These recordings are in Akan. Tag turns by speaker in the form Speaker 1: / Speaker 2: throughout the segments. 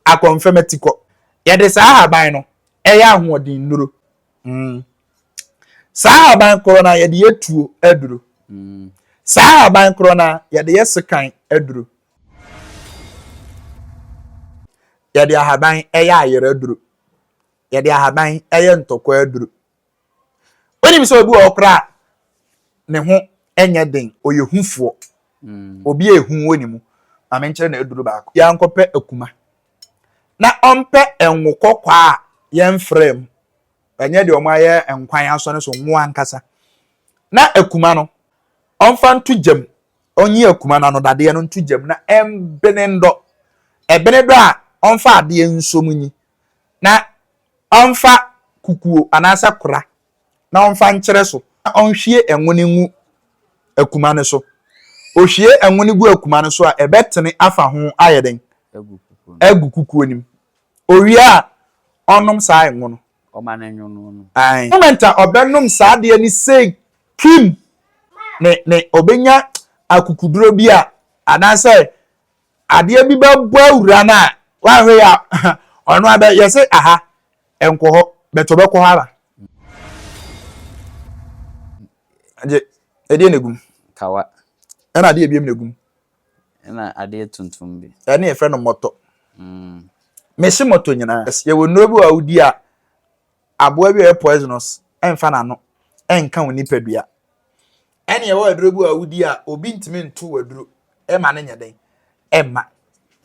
Speaker 1: akɔmfɛm atikɔ. Yɛde saa ahaban no yɛ ahoɔden nnuro. Saa ahaban korɔ no ara yɛde yɛ tuo aduro. Saa ahaban korɔ no ara yɛde yɛ sekan aduro. Yɛde ahaban yɛ ayerɛ aduro. Yɛde ahaban yɛ ntɔkwa aduro. Wonim sɛ obi wɔ hɔ koraa a ne ho nyɛ den, ɔyɛ hufoɔ. Mm. Obi a ehu wɔ ne mu. Ma menkyerɛ no aduru baako. Yɛankɔpɛ akuma. Na ɔmpɛ ngo kɔkɔɔ a yɛmfraa mu. Ɛnyɛ deɛ wɔayɛ nkwan asɔ no so, ngo ankasa. Na akuma no, ɔmfa nto gya mu. Ɔnyi akuma no anodadeɛ no nto gya mu na ɛmbene ndɔ. Ɛbene dɔ a, ɔmfa adeɛ nso mu nyi Na ɔmfa kukuo anaasɛ kora na ɔmfa nkyerɛ so. Na ɔnhwie ngo no ngu akuma no so. Ɔhwie ngo no gu akuma no so a, ɛbɛtene afa ho ayɛ dɛn? Agu kukuo no mu. Ɔwie a, ɔnnom saa ngo no. Aane.
Speaker 2: Moment a
Speaker 1: ɔbɛnom saa adeɛ no sei, kim! Ne, ne, ɔbɛnya akukuduro bi a, anaasɛ Adeɛ bi bɛbɔ awura no a woanhwɛ yie a ɔno ara bɛyɛ sɛ aha nkɔ hɔ but ɔbɛkɔ hɔ ara. Agye, ɛdeɛ na ɛgum? Kawa.
Speaker 2: Ɛna adeɛ biam
Speaker 1: na ɛgum? Ɛna
Speaker 2: adeɛ tuntum bi. Ɛne yɛfrɛ no mɔtɔ.
Speaker 1: Mm. Mese mɔtɔ nyinaa. Yɛwɔ nnuro bi wɔ a wodi a aboa bi a ɔyɛ poisonous mfa n'ano nka wo nipadua. Ɛne ɛwɔ aduro bi a wodi a obi ntumi nto w'aduro ɛma no nyɛ den ɛmma.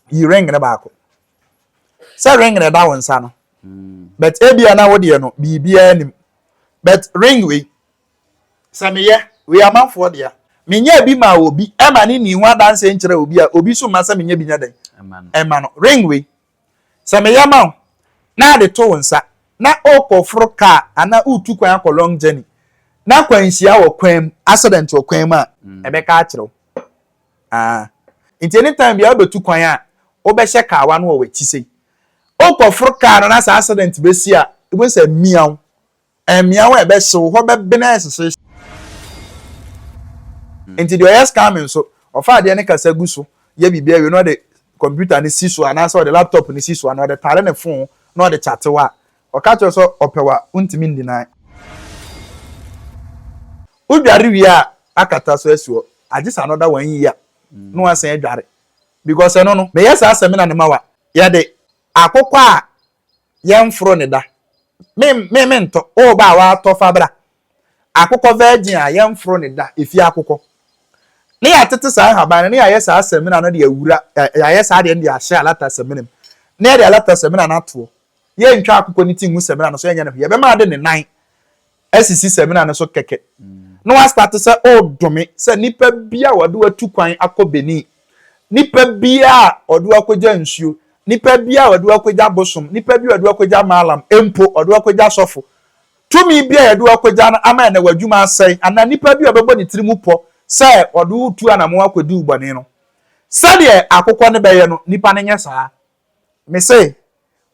Speaker 1: Yi ring no baako. Sɛ ring no ɛda wo nsa no but ebia na wo deɛ no biribiara nim but ring wei sɛ meyɛ wei amanfoɔ dea menyɛɛ bi maa obi ɛma no nni ho adanseɛ nkyerɛ obi a obi nso mma sɛ menyɛ bi nyɛ dɛn ɛma no ring wei Sɛ meyɛ ma wo na ade to wo nsa na worekɔforo car anaa woretu kwan akɔ long journey na akwanhyia wɔ kwan mu, accident wɔ kwan mu a, mɛka akyerɛ wo. Aa. Nti anytime biara wobɛtu kwan a, wobɛhyɛ kawa no wɔ w'akyi sei. Worekɔforo car no na sɛ accident bɛsi a, wobɛhu sɛ miaw, Mmeawa a ɛbɛhyew hɔ bɛben ayɛ hyehyehye. Enti deɛ ɔyɛ scamming nso, ɔfa adeɛ no kasa gu so yɛ biribi awie na ɔde computer no si so anaasɛ ɔde laptop no si so anaa ɔde tare ne phone na ɔde kyate wo a, ɔka kyerɛ wo sɛ ɔpɛ wo a, wontumi ndeny. Wodware wie a, akata so asi hɔ agye sɛ another one year na woasan adware because ɛno no, meyɛ saa sɛmina no ma wo a, yɛde akokɔ a yɛnforo ne da. Me me me ntɔ o ba a watɔ fa bra. Akokɔ virgin a yɛnforo ne da efie akokɔ. Ne yɛatete saa nhaban no ne yɛayɛ saa samina no de awura yɛayɛ saa deɛ no de ahyɛ alata samina mu na yɛde alata samina no atoɔ. Yɛntwa akokɔ ne ti ngu samina no so yɛnyɛ ne hwee yɛbɛma ade ne nan asisi samina no so kɛkɛ na wastate sɛ ɔredome sɛ nnipa bi a wɔde watu kwan akɔ Benin, nnipa bi a wɔde wakɔgya nsuo, nnipa bi a wɔde wakɔgya bosom, nnipa bi a wɔde wakɔgya maalam, mpo wɔde wakɔgya sɔfo. Tumi bi a yɛde wakɔgya no ama ɛnɛ w'adwuma asɛe, anaa nnipa bi a wɔbɛbɔ ne tiri mu pɔ sɛ wɔde wotu anamon akɔdi wo bɔne no. Sɛdeɛ akokɔ no bɛyɛ no, nnipa no nyɛ saa. Me se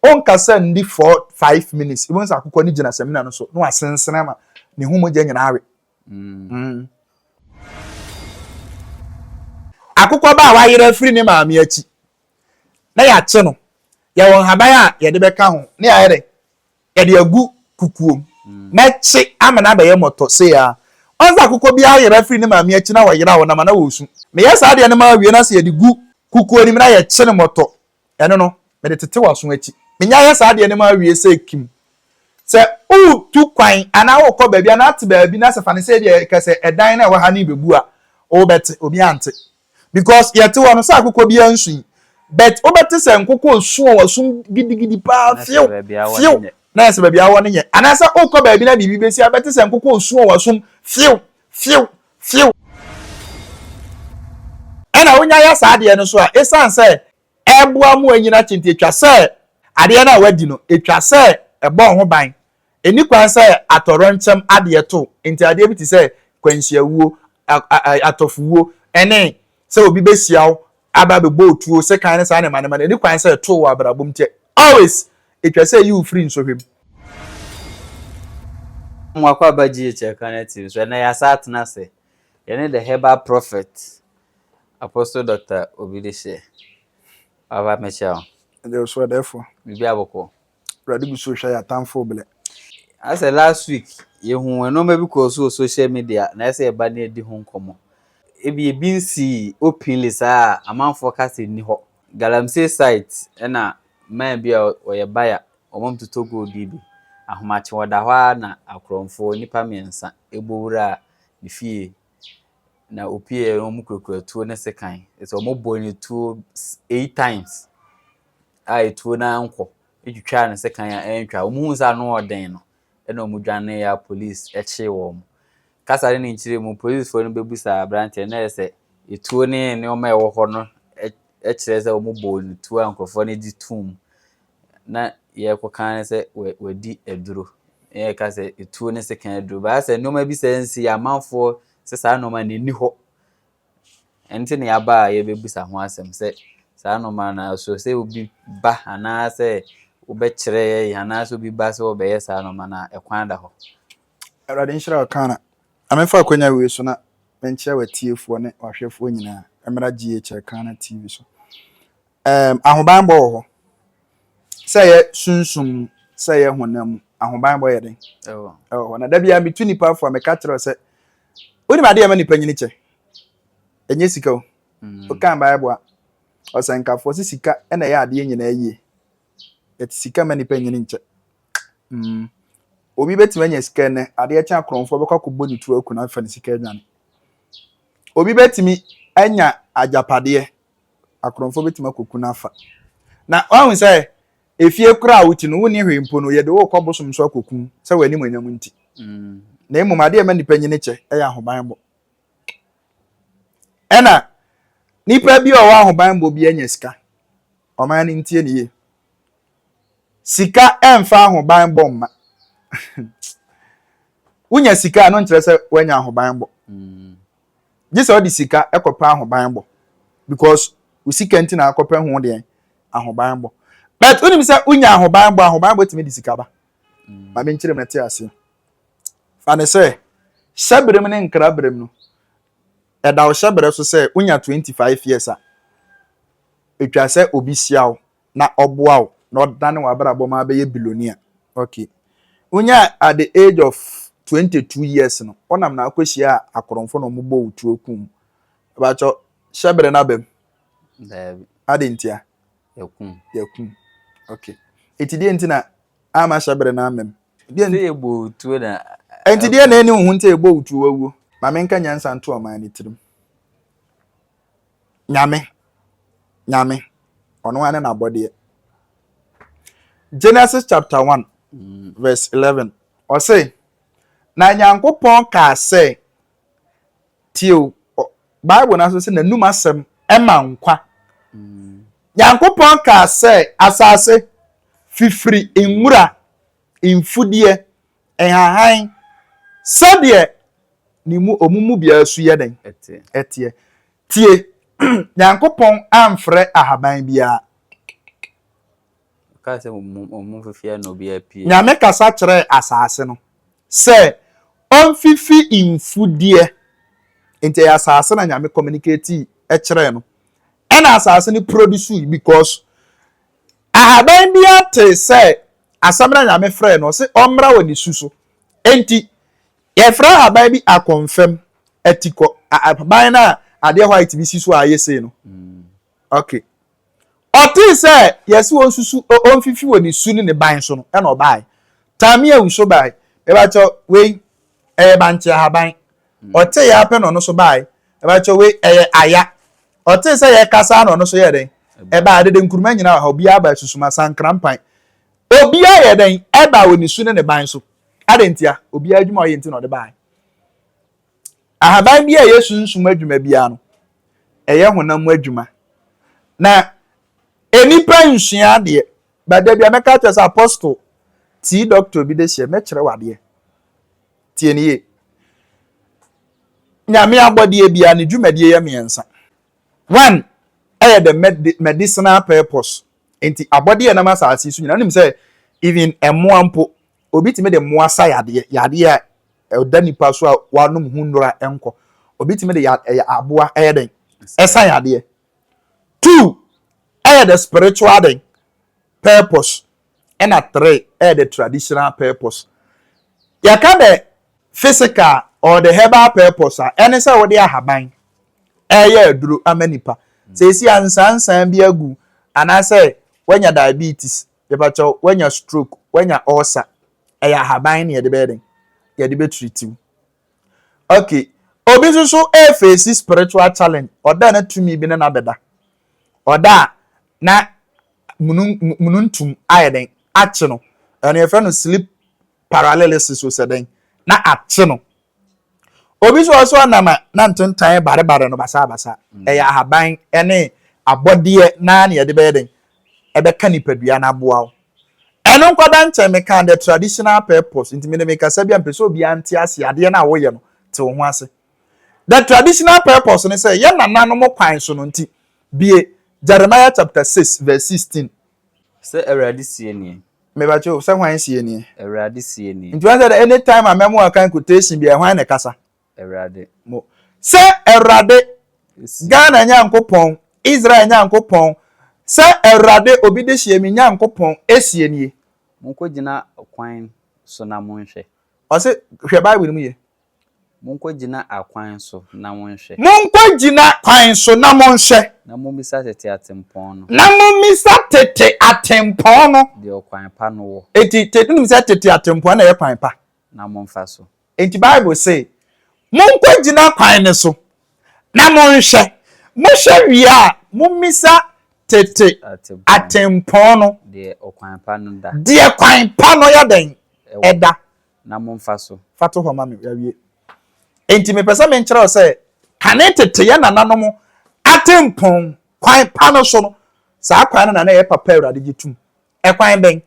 Speaker 1: onkasa nni four five minutes wobɛhu sɛ akokɔ no gyina samina no so na wasensene ama ne ho mogya nyinaa awe. Mm. Akokɔ ba a wayera afiri ne maame akyi na yɛakye no, yɛwɔ nhaban a yɛde bɛka ho na yɛayɛ dɛ Yɛde agu kukuom. Mɛkye ama no abɛyɛ mmɔtɔ sei ara. Ɔn sɛ akokɔ bi ayera firi ne maame akyi na wɔyera wɔn nam anaa wɔresu. Meyɛ saa adeɛ no ma awie na sɛ yɛde gu kukuo no mu na yɛkye no mmɔtɔ, ɛno no, mede tete w'aso akyi. Menya yɛ saa adeɛ no ma awie sɛ kim. Sɛ woretu kwan anaa worekɔ baabi anaa te baabi na sɛ fa no sɛ ebia yɛka sɛ ɛdan no a ɛwɔ ha no rebebu a, wobɛte? Obiara nte. because yɛte hɔ no sɛ akokɔ biara nsu yi but wobɛte sɛ nkokɔ esu a wɔso gidigidi paa fiew fiew na yɛ sɛ baabi awɔ no nyɛ anaasɛ wokɔ baabi na biribi bɛsi a bɛte sɛ nkokɔ esu a wɔsom fiew fiew fiew ɛna wonya yɛ saa adeɛ no so a ɛsiane sɛ ɛboa mu anyina kyente atwa sɛ adeɛ no a wadi no atwa sɛ ɛbɔ ho ban Enni kwan sɛ atɔwrɛnkyɛm adeɛ to nti adeɛ bi te sɛ kwanhyiawuo, atɔfowuo, ne sɛ obi bɛhyia wo aba abɛbɔ wo tuo, sekan ne saa nneɛma nneɛma no, enni kwan sɛ ɛto wo wɔ abrabɔ mu. Nti always etwa sɛ eyi wo firi nsɔhwɛ mu.
Speaker 2: Mo akwaaba GH Ɛkanɛ TV so, ɛnnɛ yɛasan atena ase, yɛne The Herbal Prophet, Apostle Doctor Obi Dehyeɛ. Papa mekyia wo. Yɛda
Speaker 1: wo so adɛɛfoɔ. Biribiara bɔkɔɔ.
Speaker 2: Awurade gu so rehwɛ
Speaker 1: yɛn atamfo brɛ. Asɛ last
Speaker 2: week yɛhu nnoɔma bi kɔɔ so wɔ social media na ɛsɛ yɛba na yɛdi ho nkɔmmɔ. Ebi ebi nsii openly saa a amanfoɔ ka sɛ nni hɔ. Galamsey site ɛna man bi a ɔyɛ buyer wɔn mo totɔ gold yi bi. Ahomakye wɔda hɔ ara na akorɔmfoɔ nnipa mmiɛnsa bɔ wuraa ne fie. na ɔpueeɛ no, wɔkurakura tuo ne sekan. Ɛsɛ sɛ wɔbɔ ne tuo eight times a etuo no ankɔ. Ɛtwitwaa ne sekan a ɛntwa. Wɔhuu sɛ ano yɛ den no, ɛna wɔdwaneeɛ a polisi kyee wɔn. Kasa ne ne nkyerɛ mu, polisifoɔ no bɛbisaa aberanteɛ no ayɛ sɛ etuo ne nneɛma a ɛwɔ hɔ no kyerɛ sɛ wɔbɔɔ ne tuo a nkurɔfoɔ no gye toom na yɛrekɔka ara ne sɛ wadi aduro. Yɛreka sɛ etuo ne sekan aduro. Baa sɛ nneɛma bi sɛ nsi amanfoɔ sɛ saa nneɛma no ɛni hɔ. Ɛnti na yɛaba a yɛbɛbisa ho asɛm sɛ saa nneɛma no so sɛ obi ba anaasɛ wobɛkyerɛ yɛn anaasɛ obi ba sɛ wɔbɛyɛ saa nneɛma no a ɛkwan da hɔ. Awurade
Speaker 1: nhyira wo Kana. Ma memfa akwanya wei so na menkyerɛ w'atiefoɔ ne w'ahwɛfoɔ nyinaa mmra GHL Kana TV so. um, ahobanbɔ wɔ hɔ. Sɛ ɛyɛ sunsum mu, sɛ ɛyɛ honam mu, ahobanbɔ yɛ den. Ɛwɔ hɔ. Na da biara metu nipa afo a meka kyerɛ sɛ, wonim ade a ɛma nipa nyini kyɛ? Ɛnyɛ sika o. Mm. Wokan Bible a, ɔsɛnkafo ɔse sika ɛna ɛyɛ adeɛ nyinaa yie. Yɛte sika ma nipa nyini nkyɛ. Mm. Obi bɛtumi anya sika nnɛ, adeɛ kyɛn akorɔmfoɔ bɛkɔ akɔbɔ ne turo aku no afa ne sika adwane. Obi bɛtumi anya agyapadeɛ akorɔmfoɔ bɛtumi akɔku no afa. Na wahu sɛ efie koraa a wote no wonni hwee mpo no yɛde wokɔ bosom so akɔku sɛ w'animuonyam nti. Na mmom adeɛ ɛma nnipa nyini kyɛ yɛ ahobanbɔ. Ɛna nipa bi a ɔwɔ ahobanbɔ bi anya sika. Ɔman no ntie ne yie. Sika ɛmfa ahobanbɔ mma. Wonya sika a no nkyerɛ sɛ woanya ahobanbɔ. Gye sɛ ɔde sika kɔpɛ ahobanbɔ because wo sika nti na akɔpɛ ho deɛn ahobanbɔ. But wonim sɛ wonya ahobanbɔ ahobanbɔ tumi de sika ba. Mm. Ma menkyerɛ mu ɛte aseɛ. Fa ne sɛ hyɛberem ne nkraberem no ɛda wo hyɛberɛ so sɛ wonya 25 years a ɛtwa sɛ obi hyia wo na ɔboa wo na ɔdane w'abrabɔ ma abɛyɛ billionaire okay wonya at the age of twenty two years no ɔnam na akɔ hyia akorɔmfo na ɔmo bɔ wo tuo kum ɛbɛkyɛ hyɛ bere na bɛm. Daabi. Adi ntia. Yakum. Yakum okay eti deɛ nti na ama hyɛ bere na amɛm. Deɛ nti ebɔ wo
Speaker 2: tuo na. Enti deɛ na ɛni
Speaker 1: wo ho nti ebɔ wo tuo wawuo. Maame nka nyansa nto ɔman no tirim. Nyame, Nyame, ɔno ara ne n'abɔdeɛ. Genesis chapter 1 verse 11 ɔse, na Nyankopɔn kaa sɛ, tie o, Bible no nso sɛ n'anum asɛm ɛma nkwa. Nyankopɔn kaa sɛ, asase, fifiri nwura. mfudeɛ, nhahan, sɛdeɛ ne mu, wɔn mu biara su yɛ dɛn? Ɛteɛ. Teɛ. Tie, Nyankopɔn amfrɛ ahaban biara.
Speaker 2: Ɔkaa sɛ wɔn mu, wɔn mu mfifie na obiara apue. Nyame kasa kyerɛɛ
Speaker 1: asaase no sɛ ɔmfifi mfudeɛ. Nti ɛyɛ asaase na Nyame communicatii kyerɛɛ no. Ɛna asaase no produce because Ahaban biara tee sɛ asɛm no a Nyame frɛɛ no se ɔmmra wɔ ne su so. Enti yɛfrɛ ahaban bi akɔmfɛm, atikɔ, ahaban no a adeɛ white bi si so a ayɛ sei no. Ok. Ɔtee sɛ yɛse ɔnsusu, ɔmfifi wɔ ne su ne ne ban so no, ɛna ɔbaeɛ. Tamia Uso bae. Mebakyɛ wei, ɛyɛ bankye ahaban. Ɔtee yɛ ara pɛ na ɔno nso baeɛ. Ɛbɛkyɛ wei ɛyɛ aya. Ɔtee sɛ yɛrekasa ara na ɔno nso yɛɛ dɛn? Ɛbaeɛ. Dede Nkrumah nyinaa wɔ ha. Obiara baeɛ. Susuma, Sankra, Mpan. Obiara yɛɛ dɛn? Ɛbaeɛ wɔ ne su ne ne ban so. Adɛn ntia? Obiara adwuma a ɔyɛ nti na ɔde baeɛ. Ahaban biara a ɛyɛ sunsum adwuma biara no, ɛyɛ honam mu adwuma. Na nnipa nsua adeɛ. But da bi a mɛka akyerɛ sɛ, Apostle, tii doctor bi de hyɛ, mɛkyerɛ wo adeɛ. Tie no yie. Nyame abɔdeɛ biara ne dwumadie yɛ mmiɛnsa. One ɛyɛ the medicinal purpose. Nti abɔdeɛ nam asase so nyinaa wonim sɛ even mmoa mpo obi tumi de mmoa sa yadeɛ yadeɛ a ɛda nipa so a wanom ho nnura nkɔ obi tumi de ɛyɛ aboa ɛyɛ dɛn ɛsa yadeɛ. Two ɛyɛ the spiritual dɛn purpose ɛna three ɛyɛ the traditional purpose. Yɛka the physical or the herbal purpose a, ɛne sɛ wode ahaban ɛyɛ aduro ama nipa. Seesei a nsansan bi agu anaasɛ wanya diabetes, yɛpakyɛ wo, wanya stroke, wanya ulcer, ɛyɛ ahaban na yɛde bɛyɛ dɛn? Yɛde bɛtreat wo. Okay, obi nso so ɛfeesi spiritual challenge, ɔda na tumi bi ne no abɛda. Ɔda a, na munun mununtum ayɛ dɛn akye no. Ɛno yɛfrɛ no sleep paralysis o sɛ dɛn na akye no. Obi nso wɔ hɔ so ɔnam a na ntentan yɛ barebare no basabasa. Ɛyɛ ahaban ne abɔdeɛ na na yɛde bɛyɛ dɛn ɛbɛka nipadua no aboa wo. Ɛno nkɔda nkyɛn meka the traditional purpose nti mede mekasa bi a mepɛ sɛ obiara nte aseɛ adeɛ no a woyɛ no te wo ho ase. The traditional purpose ne sɛ yɛn nananom kwan so no nti Bue Jeremiah chapter six verse sixteen. Sɛ Awurade
Speaker 2: seɛ nie. Me ba kye o, sɛ hwan
Speaker 1: seɛ nie. Awurade seɛ nie.
Speaker 2: Nti wahu sɛ dɛ any time a
Speaker 1: mɛmo a kan quotation biara hwan na ɛkasa? Awurade. Mo.
Speaker 2: Sɛ
Speaker 1: Awurade, Ghana Nyankopɔn, Israel Nyankopɔn, sɛ Awurade obi de hyɛ me Nyankopɔn seɛ nie. Monkɔgyina
Speaker 2: kwan so na monhwɛ. Ɔse
Speaker 1: hwɛ Bible no mu yie. Monkɔgyina
Speaker 2: akwan so na monhwɛ. Monkɔgyina
Speaker 1: kwan so na monhwɛ. Na mommisa tete
Speaker 2: atempɔn no. Na mommisa
Speaker 1: tete atempɔn no. Deɛ ɔkwan pa no wɔ.
Speaker 2: Enti, te, wonim sɛ tete
Speaker 1: atempɔn na ɛyɛ kwan pa. Na momfa so.
Speaker 2: Enti Bible se,
Speaker 1: Monkɔgyina kwan no so na monhwɛ. Mohwɛ wie a, mommisa tete atempɔn no. Deɛ ɔkwan pa no
Speaker 2: da. Deɛ kwan pa no
Speaker 1: yɛ dɛn? Ɛda. na momfa
Speaker 2: so. Fa to hɔ ma me. Yɛawie.
Speaker 1: Enti mepɛ sɛ menkyerɛ wo sɛ kane tete yɛn nananom atempɔn kwan pa no so no, saa kwan no na na ɛyɛ papa Awurade gye tom. Ɛkwan bɛn?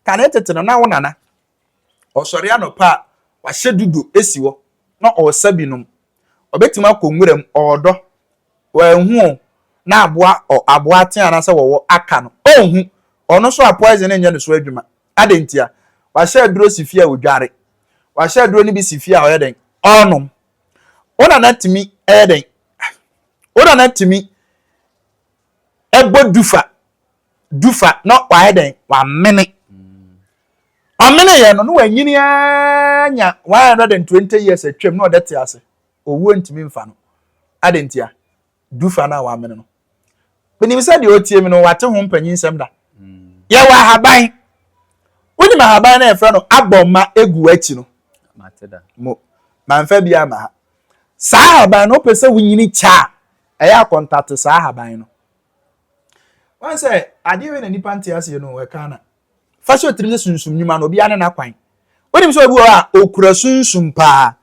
Speaker 1: Kane tete no, na wo nana ɔsɔre anɔpa a, wahyɛ dudo asi hɔ na ɔresa bi nom. Ɔbɛtumi akɔ nwuram, ɔredɔ, wanhu o, na aboa ɔ, aboa atea anaasɛ wɔwɔ aka no, ɔnhu. Ɔno nso a poison nyɛ ne so adwuma. Adɛn ntia? Wahyɛ aduro si fie a ɔdware. Wahyɛ aduro no bi si fie a ɔyɛ dɛn? Ɔrenom. Wo nana tumi yɛ dɛn? Wo nana tumi bɔ dufa dufa na wayɛ dɛn? Wamene. Ɔmene yɛ no na wanyini ara nya 120 years atwam na ɔde te ase. Owuo ntumi mfa no. Adɛn ntia? dufa no a wɔamene no. Menim sɛ deɛ ɔtie me no, wate ho mpanyinsɛm da. Yɛwɔ ahaban. Wonim ahaban no a yɛfrɛ no abɔ ma egu akyi no? Mo, mamfa bi ama ha. Saa ahaban no, wopɛ sɛ wonyini kyɛ a, ɛyɛ akɔntate saa ahaban no. Wɔn sɛ, adeɛ wei na nipa nte aseɛ no wɔ Ghana. Fa hyɛ wo tirim sɛ sunsum nnwuma no, obiara ne n'akwan. Wonim sɛ obi wɔ hɔ a okura sunsum paa,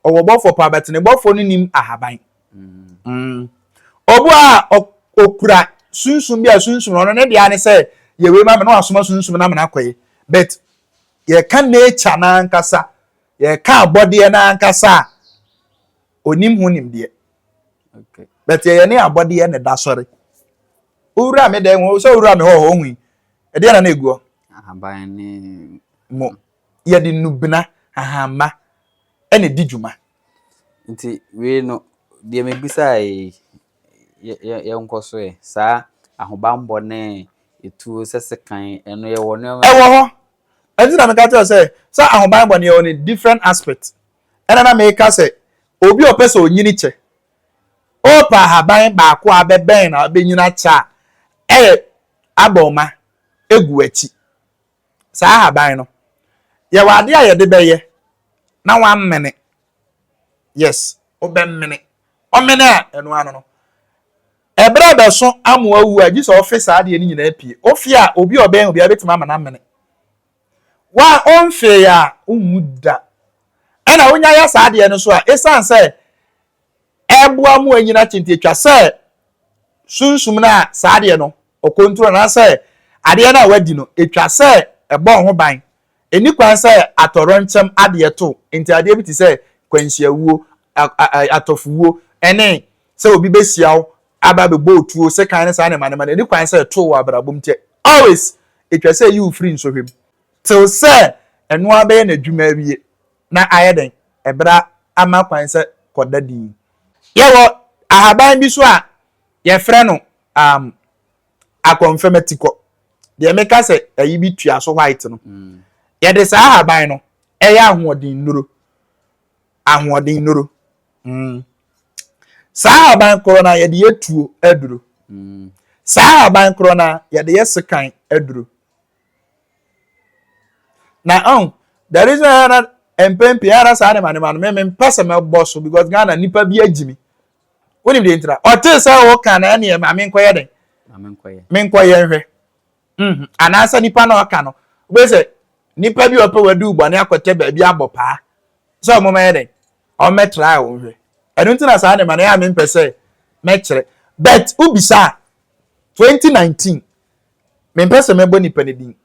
Speaker 1: ɔwɔ bɔfoɔ paa, but ne bɔfoɔ no nim ahaban. Mm. Obi wɔ hɔ a okura sunsum bi a sunsum no ɔno ne deɛ ne sɛ yɛ wei ma me na wasoma sunsum no ama no akɔyɛ. But yɛka nature no ankasa, yɛka abɔdeɛ no ankasa a, onim ho nimdeɛ. Okay.
Speaker 2: But yɛyɛ ne
Speaker 1: abɔdeɛ na ɛda sɔre. Wowura me dan mu, sɛ wowura me hɔ hɔ, ohui. Ɛdeɛn na na ɛgu hɔ? Ahaban ne
Speaker 2: mo.
Speaker 1: Yɛde nnubena, ahanma, na ɛdi dwuma. Nti
Speaker 2: wei no, deɛ mebisaa yi, yɛnkɔ so ɛ. Saa ahobanbɔ ne etuo sɛ sekan ɛno yɛwɔ nneɛma. Ɛwɔ hɔ.
Speaker 1: Ɛnti na meka kyerɛ sɛ sɛ ahobanbɔ no yɛwɔ ne different aspect. Ɛna na meka sɛ obi a ɔpɛ sɛ ɔnyini kyɛ, ɔpɛ ahaban baako a abɛbɛn na abɛnyini akyɛ a, ɛyɛ Aborɔma gu w'akyi. Saa ahaban no, yɛwɔ adeɛ a yɛde bɛyɛ na wamene. Yes, wobɛmene. Ɔmene a, ɛno ano no, ɛberɛ a ɛbɛso ama wawu a, gye sɛ ɔfe saa adeɛ no nyinaa pie. Wofe a, obi a ɔbɛn wo biara bɛtumi ama no amene. Wo a womfee a, wonwu da. Ɛna wonya yɛ saa adeɛ no nso a, ɛsiane sɛ ɛboa ma wɔanyini atenten. Ɛtwa sɛ sunsum no a saa adeɛ no ɔkɔntro no anaasɛ adeɛ no a wɔadi no, ɛtwa sɛ ɛbɔ wo ho ban. Ɛnni kwan sɛ atɔwrɛnkyɛm adeɛ to nti adeɛ bi te sɛ kwanhyiawuo, atɔfowuo, ne sɛ obi bɛhyia wo aba abɛbɔ wo tuo, sekan ne saa nneɛma nneɛma no, ɛnni kwan sɛ ɛto wo wɔ abrabɔ mu. Nti always ɛtwa sɛ ɛyi wo firi nsɔhwɛ mu. Tew sɛ ɛno ara bɛyɛ n'adwuma awie. na ayɛ dɛn? Ɛbra ama kwan sɛ kɔ da dinn. Yɛwɔ ahaban bi so a yɛfrɛ no um, akɔnfɛmatikɔ. Deɛ meka sɛ ayi bi tua so white no. Yɛde saa ahaban no ɛyɛ ahoɔden nnuro. Ahoɔden nnuro. Mm. Saa ahaban korɔ no yɛde yɛ tuo aduro. Mm. Saa ahaban korɔ no yɛde yɛ sekan aduro. na ɔn the reason yɛ na mpɛn pii ara saa ne ma ne ma no mɛmɛ mpɛ sɛ mɛbɔ so because ghana nipa bi agyi mi wonim deɛ ntira ɔte sɛ ɔka na ɛneɛ ma menkɔyɛ dɛn menkɔyɛ nhwɛ mhm. anaasɛ nipa na ɔka no wobɛ sɛ nipa bi ɔpɛ wadu bɔne akɔtɛ baabi abɔ paa sɛ ɔmo mɛyɛ dɛn ɔmmɛtra a wɔnhwɛ ɛno nti na saa ne ma no yɛ a mempɛ sɛ mɛkyerɛ but wobisa a 2019 Mempɛ sɛ mɛbɔ nipa no din.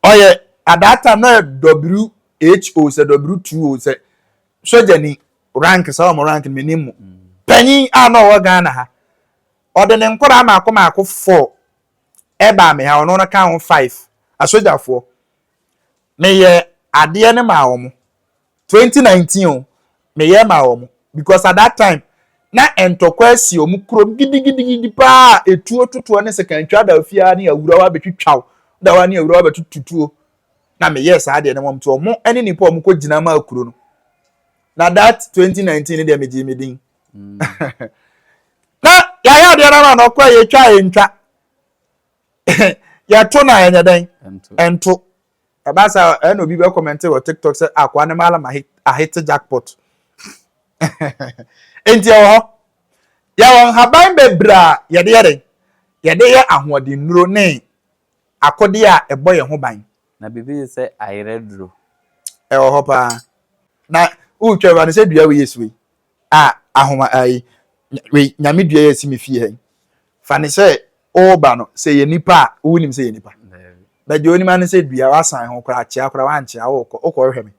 Speaker 1: Ɔyɛ at that time na ɔyɛ WHO sɛ W2O sɛ sogyani rank saa wɔn rank no menim mu. Panyin a na ɔwɔ Ghana ha. Ɔde ne nkwadaa mmaako mmaako four ɛbaa me ha ɔno no ka ho five asogyafoɔ. Meyɛ adeɛ no maa wɔn. twenty nineteen o meyɛ maa wɔn because at that time na ntɔkwa asi wɔn kurom gidigidigidi paa a etuo totoɔ ne sekantwa da ofie ara ne awurawa abɛtwitwaw da wa ne awurawa abɛtututuo na meyɛ saa deɛ ne wɔn to wɔn ne nipa wɔn kɔ gyina maa kuro no na that twenty nineteen ne deɛ megye me din mm. na yɛayɛ adeɛ no ma na ɔkɔ yɛtwa yɛntwa yɛto na ɛnyɛ dɛn ɛnto Ɛba saa a, ɛna obi bɛ comment wɔ TikTok sɛ akoa ne malam ahete jackpot. Enti ɛwɔ hɔ. Yɛwɔ nhaban bebree a yɛde yɛ dɛn? Yɛde yɛ ahoɔden nnuro ne akode a ɛbɔ yɛn ho ban. Na biribi te sɛ
Speaker 2: ayerɛ duro. Ɛwɔ hɔ
Speaker 1: paa. Na wotwa wura no sɛ dua wei yɛ su yi. a ahoma a yi wei nyame dua yɛ si me fie ha yi fa ne sɛ ɔreba no sɛ yɛ nipa a wonim sɛ yɛ nipa bɛgye onim ano sɛ dua wasan ho koraa kyea koraa wankyea wokɔ wokɔ hwɛ me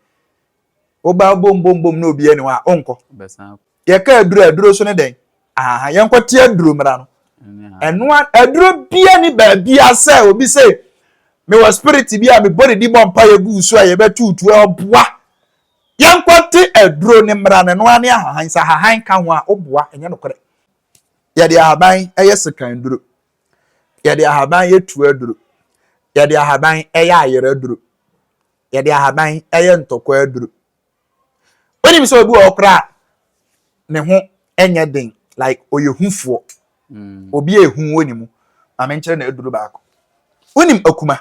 Speaker 1: woba bom bom bom na obi ani wa onkɔ yɛka
Speaker 2: aduro
Speaker 1: aduro so ne dɛn aha yɛnkɔ te aduro mmara no ɛno aduro bia ne baabi asɛ obi sɛ mewɔ spirit bi a mebɔ ne di bɔ mpa yɛ gu so a yɛbɛtutu ɔboa Yɛnkɔte aduro ne mmara no ɛno ara ne ahahan sɛ ahahan ka ho a woboa ɛnyɛ nokorɛ yɛde ahaban yɛ sekan duro yɛde ahaban yɛ tuo aduro yɛde ahaban yɛ ayerɛ aduro yɛde ahaban yɛ ntɔkwa aduro wonim sɛ obi wɔ hɔ koraa ne ho ɛnyɛ den like ɔyɛ hufoɔ mm. obi a ɛhu wɔ ne mu ma menkyerɛ na aduro baako wonim akuma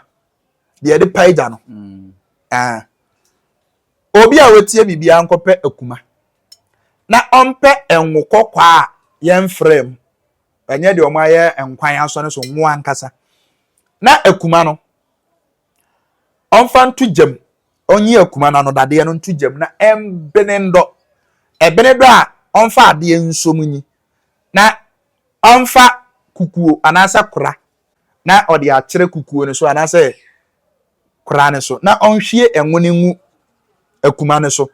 Speaker 1: deɛ yɛde pae gya no mm. ah. obi a wɔtie biribiara nkɔpɛ akuma na ɔmpɛ ngo kɔkɔɔ a yɛmfrɛ mu ɛnyɛ deɛ wɔn ayɛ nkwan asɔ no so ngo ankasa na akuma no ɔmfa nto gyam ɔnyi akuma no anodadeɛ no nto gyam na ɛmbene ndɔ ɛbene dɔ a ɔmfa adeɛ nso mu nyi na ɔmfa kukuo anaasɛ kora na ɔde akyerɛ kukuo no so anaasɛ kora no so, na ɔnhwie ngo no ngu akuma no so.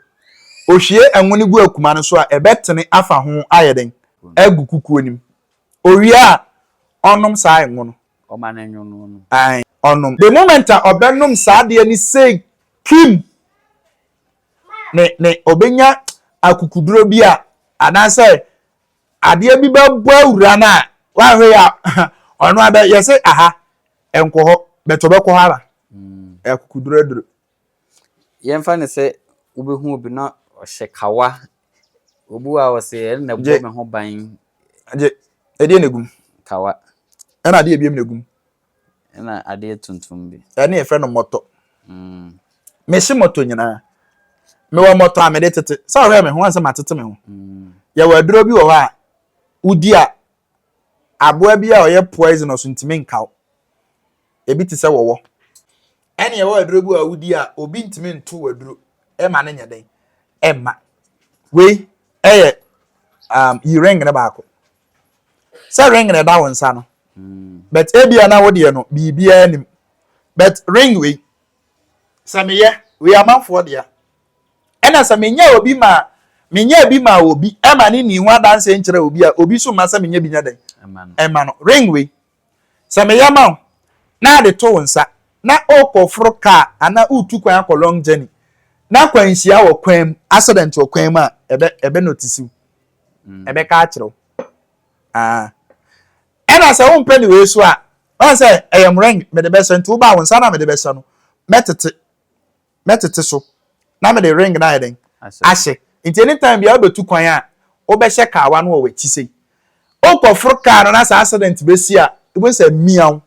Speaker 1: Ɔhwie ngo no gu akuma no so a, ɛbɛtene afa ho ayɛ dɛn? Agu kukuo no mu. Ɔwie a, ɔnom saa ngo no. Ɔma no nwo no,
Speaker 2: ɔnom. Ae, ɔnom. The
Speaker 1: moment a ɔbɛnom saa adeɛ no sei kim, ne, ne, ɔbɛnya akukuduro bi a, anaasɛ Adeɛ bi bɛbɔ awura no a wahwɛ yɛ ɔno abɛ yɛ se aha nkɔ hɔ but ɔbɛkɔ hɔ ara akukuduraduro. Yɛmfa
Speaker 2: no sɛ wobɛhu obi na ɔhyɛ kawa obi wɔ a ɔse ɛno na ɛbɔ me ho ban. Gye
Speaker 1: ɛdeɛ na egum. Kawa.
Speaker 2: Ɛna adeɛ
Speaker 1: ebiem na egum. Ɛna
Speaker 2: adeɛ tuntum bi. Ɛne yɛfrɛ no mɔtɔ.
Speaker 1: Mm. Mehye mɔtɔ nyinaa. Mewɔ mɔtɔ a mede tete. Sɛ ɔhwɛ me ho ansɛ matete me ho. Mm. Yɛwɔ aduro bi wɔ hɔ a wodi a aboa bi a ɔyɛ poisonous ntumi nkaw. Ebi te sɛ wɔwɔ. Ɛne yɛwɔ aduro bi wɔ a wodi a obi ntumi nto wɔ aduro. Ɛma no nyɛ dɛn. Ɛma. Wei ɛyɛ um, yiring ne baako. sɛ ring na ɛda wo nsa no but ebia na wo deɛ no biribiara nim but ring wei sɛ meyɛ wei amanfoɔ dea ɛna sɛ menyɛ obi ma menyɛ bi ma obi ɛma ne ni ho adanseɛ nkyerɛ obi a obi so ma sɛ menyɛ bi nyɛ dɛn ɛma no ring wei Sɛ meyɛ ma wo na ade to wo nsa na worekɔforo car anaa woretu kwan akɔ long journey na akwanhyia wɔ kwan mu, accident wɔ kwan mu a, ɛbɛ ɛbɛ notice wo. Ɛbɛka akyerɛ wo. Ah. Ɛna sɛ wompɛ ne wei so a, woahu sɛ ɛyɛ mmorɛn mede bɛhyɛ nti wobaa wo nsa na mede bɛhyɛ no mɛtete. mɛtete so na mede ring no ayɛ dɛn? Ahyɛ. Nti anytime biara wobetu kwan a, wobɛhyɛ kaawa no wɔ w'akyi sei. Wokɔforo kaa no na sɛ accident besi a, wobɛhu sɛ mmeaw,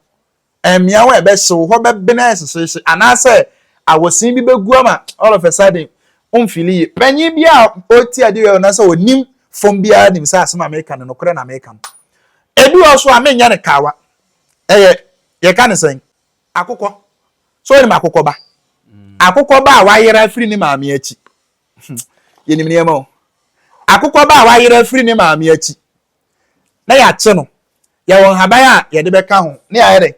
Speaker 1: mmeaw a ɛbɛhye wo hɔ bɛbene ayɛ hyehyeehye anaasɛ awɔsen bi bɛgu ama all of a sudden womfili yie. Panyin biara a ɔreti ade wɔ anaasɛ ɔnim fam biara nim sɛ asɛm a meka no, nokorɛ na meka no. Ebi wɔ hɔ nso a menyɛ no kaawa. Ɛyɛ, yɛka no sɛn? Akokɔ. So wonim akokɔ ba? Akokɔ ba a wayera afiri ne maame akyi. Yɛnim nneɛma o. Akokɔ ba a wayera afiri ne maame akyi na yɛakye no. Yɛwɔ nhaban a yɛde bɛka ho ne yɛayɛ dɛ.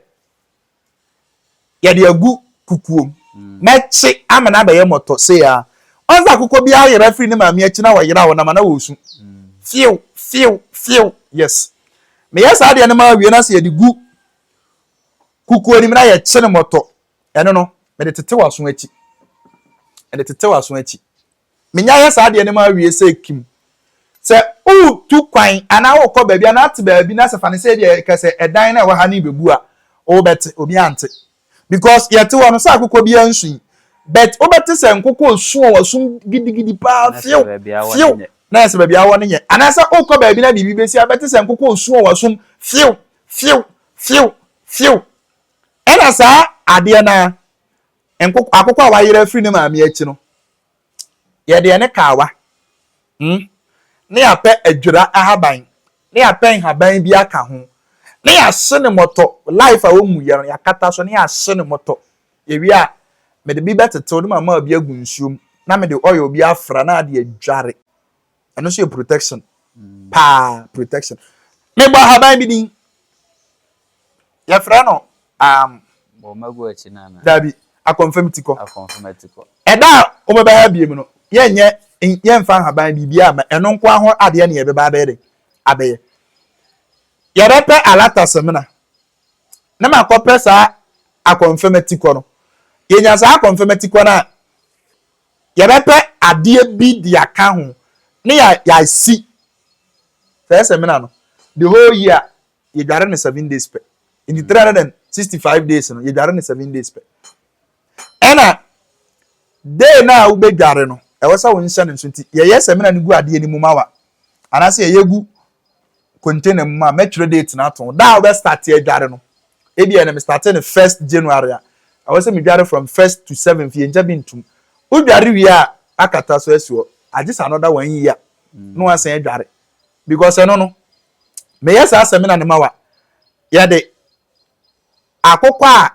Speaker 1: Yɛde agu kukuom mm. na kye ama no abɛyɛ mmɔtɔ sei a. Ɔn sɛ akokɔ bi ayera afiri ne maame akyi na wɔyera wɔn ama na wɔresu. Mm. Few, few, few. Yes. Meyɛ saa deɛ no ma awie na sɛ yɛde gu Kukuo nim na yɛkye no mmɔtɔ. Ɛno no, mede tete w'aso akyi. Mede tete w'aso akyi. Menya yɛ saa adeɛ no ma awie sɛ kim. Sɛ wotu kwan anaa wokɔ baabi anaa ate baabi na sɛ fa ne sɛ ebi a kɛsɛ ɛdan na ɛwɔ ha ne bɛbu a, wobɛte, obi ante. Because yɛte hɔ no sɛ akokɔ bi ansui. But wobɛte sɛ nkokɔ osu a wɔasu gidigidi paa fiew fiew na ɛsɛ baabi awɔ ne nyɛ. Anaasɛ wokɔ baabi na biribi bɛsi a bɛte sɛ nkokɔ osu a wɔasum fiew Few! Few! Few! Ɛna saa adeɛ no ara, nkoko, akokɔ a wayera afiri ne maame akyi no, yɛde ɛne kawa, hmm, ne yɛapɛ adwira ahaban, ne yɛapɛ nhaban bi aka ho, ne yɛahye ne mɔtɔ, life a wɔmmu yɛ no, yɛakata so, ne yɛahye ne mɔtɔ. Yɛwie a, mede bi bɛtetew ne mama bi agu nsuom, na mede oil bi afra na ade adware. ɛno nso yɛ protection paa protection mebɔ ahaban bi din yɛfrɛ no
Speaker 2: um, dabi akɔnfam
Speaker 1: ti kɔ ɛda a wɔbɛbɛha biem no yɛnyɛ yɛmfa ahaban biribi ama ɛno nko ho adeɛ ne yɛbɛba abɛyɛ de abɛyɛ yɛbɛpɛ alata semina na makɔpɛ saa akɔnfam ti kɔ no yɛnya saa akɔnfam ti kɔ no a yɛbɛpɛ adeɛ bi de aka ho ne yɛ yɛasi fɛɛ sɛ mena no the whole year yɛdware no seven days pɛ nti three hundred and sixty five days no yɛdware no seven days pɛ ɛna day no a wobɛdware no ɛwɔ sɛ wo nhyɛ no nso nti yɛyɛ sɛ mena no gu adeɛ no mu ma wa Anaasɛ yɛyɛ gu container mu a, mɛtwerɛ date no ato ho. Da a wobɛstate adware no, ebia ɛnɛ mestate no first January a, ɛwɔ sɛ medware from first to seventh, yɛngya bi ntom. Wodware wie a, akata so asi hɔ. Agye sɛ another one year na woasan adware. Because ɛno no, meyɛ saa seminar no ma wa. Yɛde akokɔ a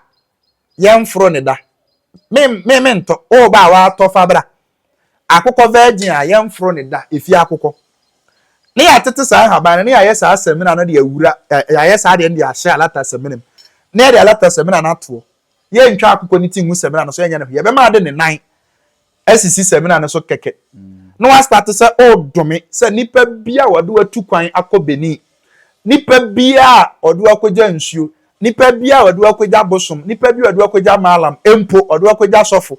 Speaker 1: yɛnforo ne da. Me me me ntɔ o ba a watɔ fa bra. Akokɔ virgin a yɛnforo ne da efie akokɔ. Ne yɛatete saa nhaban no ne yɛayɛ saa samina no de awura yɛayɛ saa deɛ no de ahyɛ alata samina mu na yɛde alata samina no atoɔ. Yɛntwa akokɔ ne ti ngu samina no so yɛnyɛ ne hwee yɛbɛma ade ne nan asisi samina no so kɛkɛ na wastate sɛ ɔredome sɛ nnipa bi a wɔde watu kwan akɔ Benin, nnipa bi a wɔde wakɔgya nsuo, nnipa bi a wɔde wakɔgya bosom, nnipa bi a wɔde wakɔgya maalam, mpo wɔde wakɔgya sɔfo.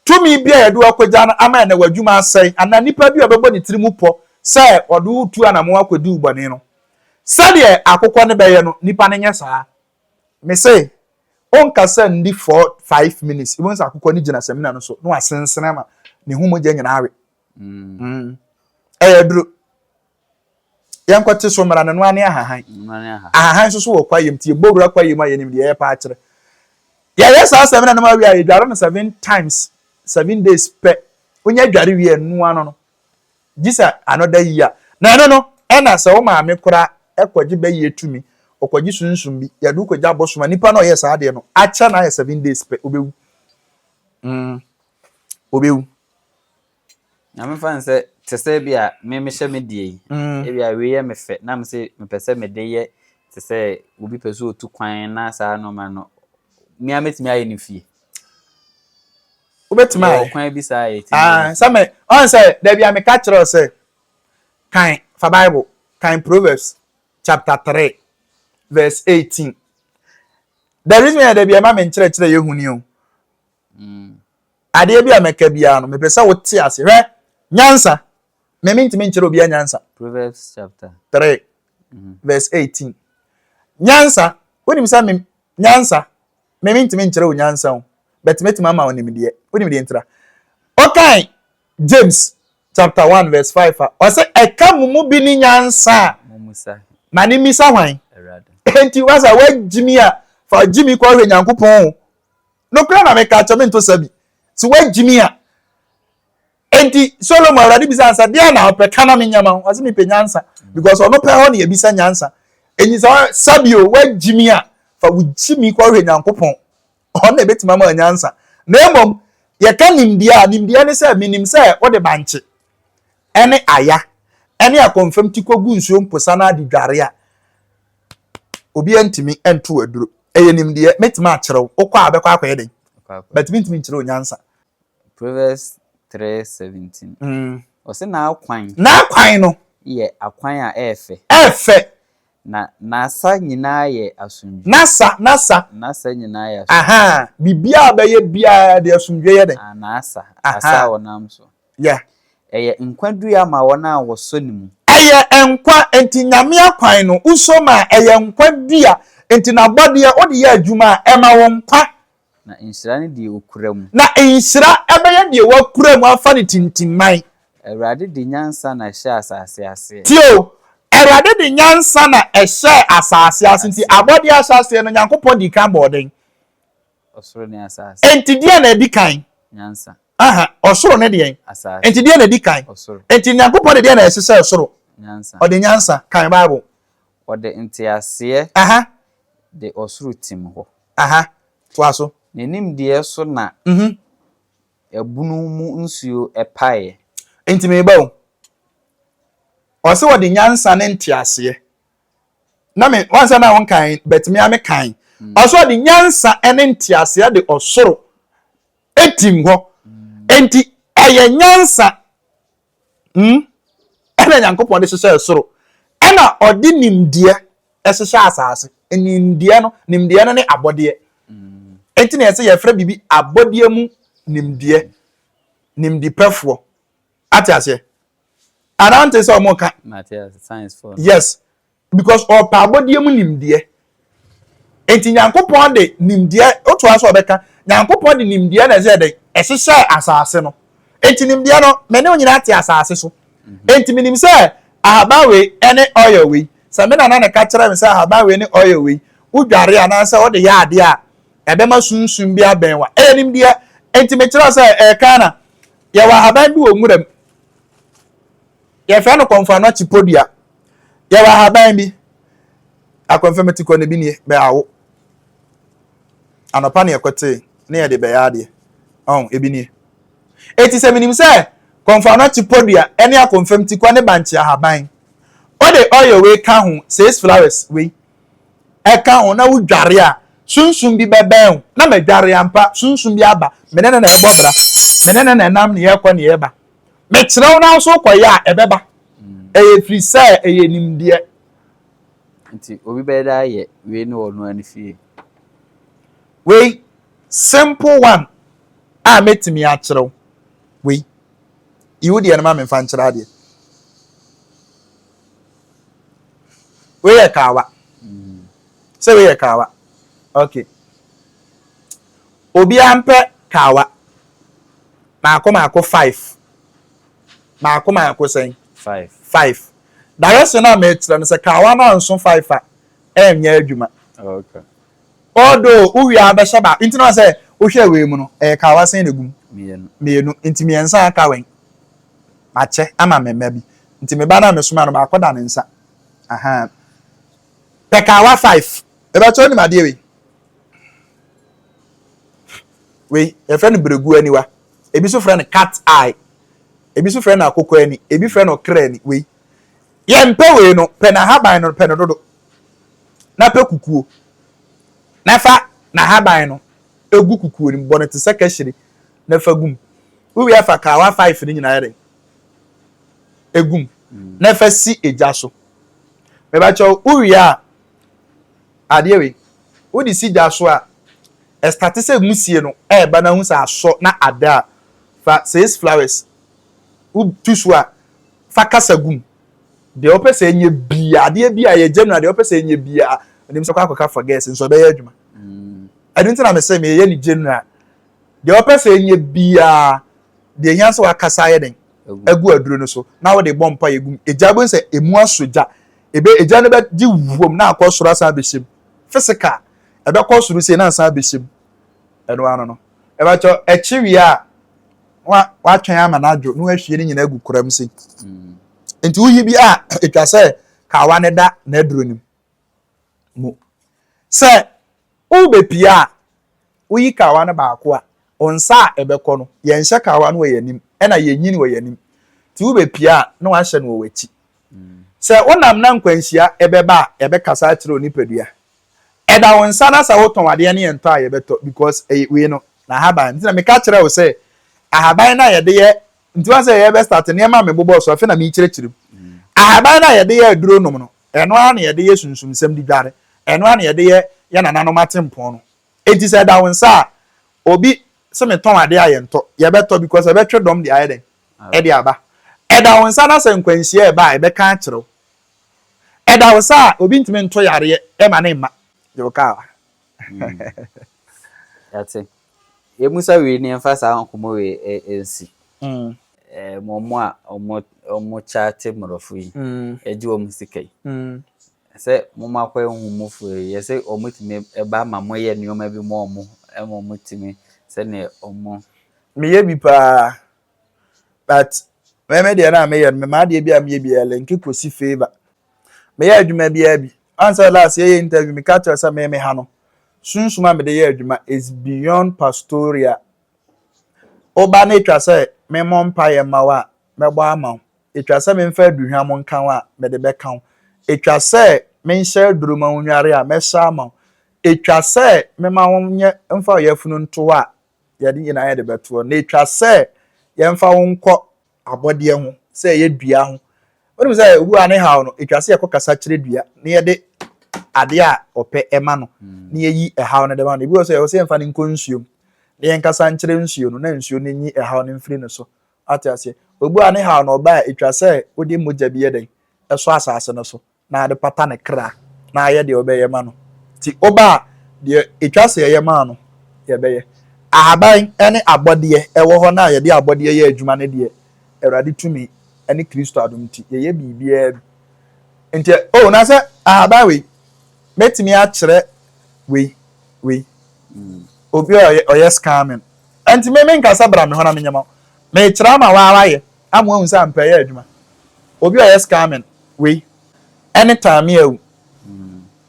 Speaker 1: Tumi bi a yɛde wakɔgya no ama ɛnɛ w'adwuma asɛe, anaa nnipa bi a wɔbɛbɔ ne tiri mu pɔ sɛ wɔde wotu anammɔn akɔdi wo bɔne no. Sɛdeɛ akokɔ no bɛyɛ no, nnipa no nyɛ saa. Me se onkasa nni four five minutes wobɛhu sɛ akokɔ no gyina samina no so na wasensene ama ne ho mogya nyinaa awe. Mm. Ɛyɛ duro. Yɛnkɔte so mmara no no ane ahahan. Ahahan nso so wɔ kwayam nti yɛbɔ wura kwayam a yɛnim deɛ yɛrepa akyerɛ. Yɛyɛ saa samina no ma awie a yɛdware no seven times seven days pɛ. Wonya dware wie ɛnoa no no gye sɛ another year. Na ɛno no, ɛna sɛ wo maame koraa kɔgye bɛyɛ tumi, ɔkɔgye sunsum bi, yɛde wo kɔgya abosom a, nipa no a ɔyɛɛ saa adeɛ no, akyɛ no ayɛ seven days pɛ, ɔbɛwu. Mm, ɔbɛwu.
Speaker 2: Na mefa no sɛ, te sɛ bi a me mehyɛ me deɛ yi, mm. ebi a wei yɛ me fɛ, na me se mepɛ sɛ mede yɛ te sɛ obi pɛ sɛ ɔtu kwan na saa nɔɔma no, mmea mɛtumi ayɛ no fie. wobɛtumi
Speaker 1: ayɛ. Yɛwɔ kwan bi saa a yɛtumi ayɛ.
Speaker 2: Ah, sɛ me, ɔn
Speaker 1: sɛ, dabi a meka kyerɛ wo sɛ, kan fa Bible, kan Proverbs chapter 3 verse 18. The reason yɛ dabi a ɛma me nkyerɛkyerɛ yɛ huni o. Mm. Adeɛ bi a mɛka biara no, mepɛ sɛ wote ase. Hwɛ, nyansa. Me mentumi nkyerɛ obiara nyansa. Proverbs chapter 3 mm-hmm. verse 18.
Speaker 2: Nyansa,
Speaker 1: wonim sɛ me nyansa Me mentumi nkyerɛ wo nyansa o, but mɛtumi ama wo nimdeɛ. Wonim deɛ ntira? Ɔkae James chapter 1 verse 5 a, ɔse, ɛka mo mu bi ne nyansa a, ma
Speaker 2: ne mmisa hwan?
Speaker 1: Enti
Speaker 2: wasa
Speaker 1: woagyimi a, fa gyimi kɔhwɛ Nyankopɔn o. Nokorɛ na meka kyɛ, mento sa bi. Se woagyimi a, Enti Solomon, Awurade bisaa no sɛ, Deɛn na wopɛ? Ka na menyɛ ma wo. Ɔse, Mepɛ nyansa. Because ɔno pɛ hɔ na yɛbisa nyansa. Enti sɛ Sabio, woagye mi a, fa wo gyimi kɔhwɛ Nyankopɔn. Ɔno na ɛbɛtumi ama nyansa. Na mmom, yɛka nimdeɛ a, nimdeɛ ne sɛ menim sɛ wode bankye ne aya ne akɔmfam ti kɔgu nsuo mposa no ade dware a, obiara ntumi nto wo aduro. Ɛyɛ nimdeɛ. Mɛtumi akyerɛ wo. Wokɔ a, bɛkɔ akɔyɛ dɛn? But mentumi nkyerɛ wo nyansa. Proverbs
Speaker 2: three seventeen. Ɔse n'akwan. N'akwan no.
Speaker 1: Yɛ akwan
Speaker 2: a ɛyɛ fɛ. Ɛyɛ fɛ.
Speaker 1: Na
Speaker 2: n'asa nyinaa yɛ asomdwoe. N'asa, n'asa. N'asa nyinaa yɛ asomdwoe. Ahaa, biribiara
Speaker 1: a ɔbɛyɛ biara de asomdwoe yɛ dɛn? N'asa, asa
Speaker 2: a ɔnam so. Yeah.
Speaker 1: Ɛyɛ nkwa
Speaker 2: dua ma wɔn a wɔsɔ ne mu. Ɛyɛ nkwa,
Speaker 1: enti Nyame akwan no, wosɔ mu a, ɛyɛ nkwa dua. Enti n'abɔdeɛ, wode yɛ adwuma a, ɛma wo nkwa. Na nhyira
Speaker 2: ne deɛ ɔkura mu. Na nhyira
Speaker 1: bɛyɛ deɛ wakura mu afa no tintimman. Awurade de
Speaker 2: nyansa na ɛhyɛɛ asase aseɛ. Tie o,
Speaker 1: Awurade de nyansa na ɛhyɛɛ asase aseɛ. Nti abɔdeɛ ahyɛaseɛ no, Nyankopɔn dii kan bɔɔ dɛn? Ɔsoro
Speaker 2: ne asase. Nti deɛn na ɛdi kan?
Speaker 1: Nyansa. Aha,
Speaker 2: ɔsoro
Speaker 1: ne deɛn? Asase. Nti deɛn na ɛdi
Speaker 2: kan?
Speaker 1: Ɔsoro. Nti Nyankopɔn
Speaker 2: de deɛn na
Speaker 1: ɛhyehyɛɛ soro? Nyansa. Ɔde nyansa,
Speaker 2: kan
Speaker 1: Bible. Ɔde
Speaker 2: nteaseɛ
Speaker 1: de ɔsoro
Speaker 2: tim hɔ.
Speaker 1: Ne nimdeɛ so
Speaker 2: na ɛbunu mu nsuo paeɛ. Enti mereba o.
Speaker 1: Ɔse wɔde nyansa ne nteaseɛ na me wahu sɛ na wo nkan but me a me kan ɔse ɔde nyansa ne nteaseɛ de ɔsoro tim hɔ enti ɛyɛ nyansa Hmm? Ɛna Nyankopɔn de hyehyɛɛ soro, ɛna ɔde nimdeɛ ɛhyehyɛ asaase. Nimdeɛ no, nimdeɛ no ne abɔdeɛ. Enti na ɛsɛ yɛfrɛ biribi abɔdeɛ mu nimdeɛ, nimdipɛfoɔ. Ate aseɛ? Anante sɛ ɔmo ka.
Speaker 2: Yes.
Speaker 1: because ɔrepɛ abɔdeɛ mu nimdeɛ nti nyankopɔn de nimdeɛ wotoa so ɔbɛka nyankopɔn de nimdeɛ na ɛsɛ dɛn ɛhyehyɛ asase no nti nimdeɛ no me ne nyinaa te asase so nti menim sɛ ahaban wei ɛne oil wei sɛ me nana ne ka kyerɛ me sɛ ahaban wei ne oil wei wodware anaasɛ wode yɛ adeɛ a ɛbɛma sunsum bi abɛn wa ɛyɛ nimdeɛ nti mekyerɛ sɛ ɛka na yɛwɔ ahaban bi wɔ nwura mu yɛfrɛ no kɔmfano akyipodua Yɛwɔ ahaban bi. Akwanfa mu ti kɔ no bi nie, bɛawo. Anɔpa na yɛkɔtee na yɛde bɛyɛ adeɛ. Ɔn, ebi nie. Eti sɛ menim sɛ kɔnfanɔkye podua ne akwanfa mu ti kɔ ne bankye ahaban, wode oil wei ka ho, six flowers wei, ɛka ho na wodware a, sunsum bi bɛbɛn wo. Na madware ampa, sunsum bi aba. Me ne no na ɛbɔ bra. Me ne no na ɛnam ne yɛkɔ ne yɛba. Mekyerɛ wo nanso wokɔyɛ a, ɛbɛba. Ɛyɛ firi sɛ ɛyɛ nimdeɛ.
Speaker 2: Nti obi bɛyɛ dɛ ayɛ wei ne ɔno ara ne fie.
Speaker 1: Wei, simple one a mɛtumi akyerɛ wo. Wei, yi wo deɛ no ma me mfa nkyerɛ adeɛ. Wei yɛ kaawa. Sɛ wei yɛ kaawa. Okay. Obiara mpɛ kawa. Maako maako five. Maako maako sɛn? Five. Five. Direction a mekyerɛ no sɛ kawa no anso five a, ɛnyɛ adwuma. Okay.
Speaker 2: Although
Speaker 1: wowie a bɛhyɛ baako nti na sɛ wohwɛ wei mu no ɛyɛ kawa sɛn na egum? Mmienu. Mmienu nti mmiɛnsa aka wɛn? Makyɛ ama me mma bi. Nti me ba no a mesoma no baako da ne nsa. Ahaa. Pɛ kawa five. Ɛbɛkyɛ wonim adeɛ wei? Wei, yɛfrɛ no berɛguo aniwa. Ebi nso frɛ no cat eye. Ebi nso frɛ no akokɔ ani. Ebi frɛ no ɔkra ani. Wei, yɛmpɛ wei no. Pɛ n'ahaban no, pɛ no dodo. Na pɛ kukuo. Na fa n'ahaban no gu kukuo no mu. Bɔ no te sɛ kahyire na fa gu mu. Wowie afa kawa five no nyinaa yɛ dɛn? Egu mu. Na fa si egya so. Mebakyɛw, wowie a, Adeɛ wei, wode si gya so a, ɛstate sɛ wusie no ɛreba na wohu sɛ asɔ na ada a, fa six flowers, wotu so a, fa kasa gu mu. Deɛ wopɛ sɛ ɛnyɛ biara, adeɛ bi a yɛ general, deɛ wopɛ sɛ ɛnyɛ biara, ɛnim sɛ kɔ akɔka for girls nso ɛbɛyɛ adwuma. Ɛno nti na mesɛ meyɛ ne general. Deɛ wopɛ sɛ ɛnyɛ biara, deɛ ɛhia sɛ wakasa ayɛ dɛn, agu aduro no so na wode bɔ mpa yɛ gu mu. Egya bɛhu sɛ ɛmu asɔ gya, Ebe, egya no bɛgye wom na akɔ soro asan abɛhyɛ mu. Physical, ɛbɛkɔ soro sei na asan abɛhyɛ mu. Ɛno ano no. Ɛbɛkyɛ ɛkye wie a, wa watwɛn ama no adwo na wahwie ne nyinaa agu koram sei. Mm. Nti woyi bi a, ɛtwa sɛ kawa no da n'aduro no mu. Sɛ Wobepia a, woyi kawa no baako a, wo nsa a ɛbɛkɔ no, yɛnhyɛ kawa no wɔ yɛn anim na yɛnyi wɔ yɛn anim. Nti wobepia a, na woahyɛ no wɔ w'akyi. Sɛ wonam na nkwanhyia bɛba a, yɛbɛkasa akyerɛ wo nipadua. Ɛda wo nsa na sɛ wotɔn adeɛ no yɛntɔ a yɛbɛtɔ because ɛyɛ wei no, n'ahaban. Nti na meka kyerɛɛ wo sɛ ahaban no a yɛde yɛ, nti woahu sɛ yɛbɛstarte nneɛma a mebobɔɔ so afei na merekyerɛkyerɛ mu. Ahaban no a yɛde yɛ aduro nom no, Ɛno ara na yɛde yɛ Sunsum nsɛm di dware. Ɛno ara na yɛde yɛ yɛn nananom atempɔn no. Enti sɛ ɛda wo nsa a, obi se metɔn ade a yɛntɔ, yɛbɛtɔ because ɛbɛtwe dɔm de ayɛ dɛn? De aba. Ɛda wo nsa na sɛ nkwanhyia reba a, yɛbɛka akyerɛ wo. Ɛda wo sa a, obi ntumi nto yareɛ mma ne mma. Deɛ wokaa wa.
Speaker 2: Yɛate. Yɛ mu sa wei ne yɛn fa saa nkɔmɔ wei ɛ ɛ nsi. Mm. Ɛ mo mo a ɔmo ɔmo kyaate mɔrɔfo yi. Mm. Ɛ gye ɔmo sika yi. Mm. Sɛ mo mo akɔ ehu mo fo yi yɛ sɛ ɔmo tumi ɛba ma mo yɛ nneɛma bi mo ɔmo ɛma ɔmo tumi sɛ ne ɔmo. Me yɛ bi
Speaker 1: paa. but me me deɛ na me yɛ no me maa deɛ bi a me yɛ bi ɛlɛ nke kosi favour me yɛ adwuma bi abi ansa last yɛ yɛ interview me ka kyerɛ sɛ me me ha no sunsum a me de yɛ adwuma is beyond pastoria oba na etwa sɛ me mɔ mpa yɛ ma wa me bɔ ama wo etwa sɛ me nfa aduhwa mo nka wa me de bɛ ka wo etwa sɛ me nhyɛ aduru ma wo nware a mɛ hyɛ ama wo etwa sɛ me ma wo nyɛ nfa yɛ funu nto wa yɛde nyinaa yɛde bɛtoɔ na ɛtwa sɛ yɛmfa wo nkɔ abɔdeɛ ho sɛ ɛyɛ dua ho wonim sɛ obu a ne haw no ɛtwa sɛ yɛkɔ kasa kyerɛ dua na yɛde adeɛ a ɔpɛ ɛma no na yɛyi ɛhaw no de ma no ebi wɔ sɛ ɛwɔ sɛ yɛmfa no nkɔ nsuom na yɛnkasa nkyerɛ nsuo no na nsuo no nyi ɛhaw no mfiri no so ate aseɛ obu a ne haw no ɔba a ɛtwa sɛ wode mogya bi yɛ dɛn ɛsɔ asase no so na ade pata ne kra na ayɛ deɛ ɔbɛyɛ ma no. Nti oba a, deɛ ɛtwa sɛ yɛyɛ maa no, yɛbɛyɛ. Ahaban ne abɔdeɛ ɛwɔ hɔ no a yɛde abɔdeɛ yɛ adwuma no deɛ, Awurade tumi ne Kristo adom nti, yɛyɛ biribiara bi. Nti ɛ, oh, na sɛ ahaban wei, mɛtumi akyerɛ wei, wei, obi a ɔyɛ, ɔyɛ scamming. Nti me, menkasa bra me hɔ na menyɛ ma wo. Mekyerɛ ama wo ara yɛ. ama wahu sɛ ampa ɛyɛ adwuma obi ɔyɛ scamming wei ɛne taame awu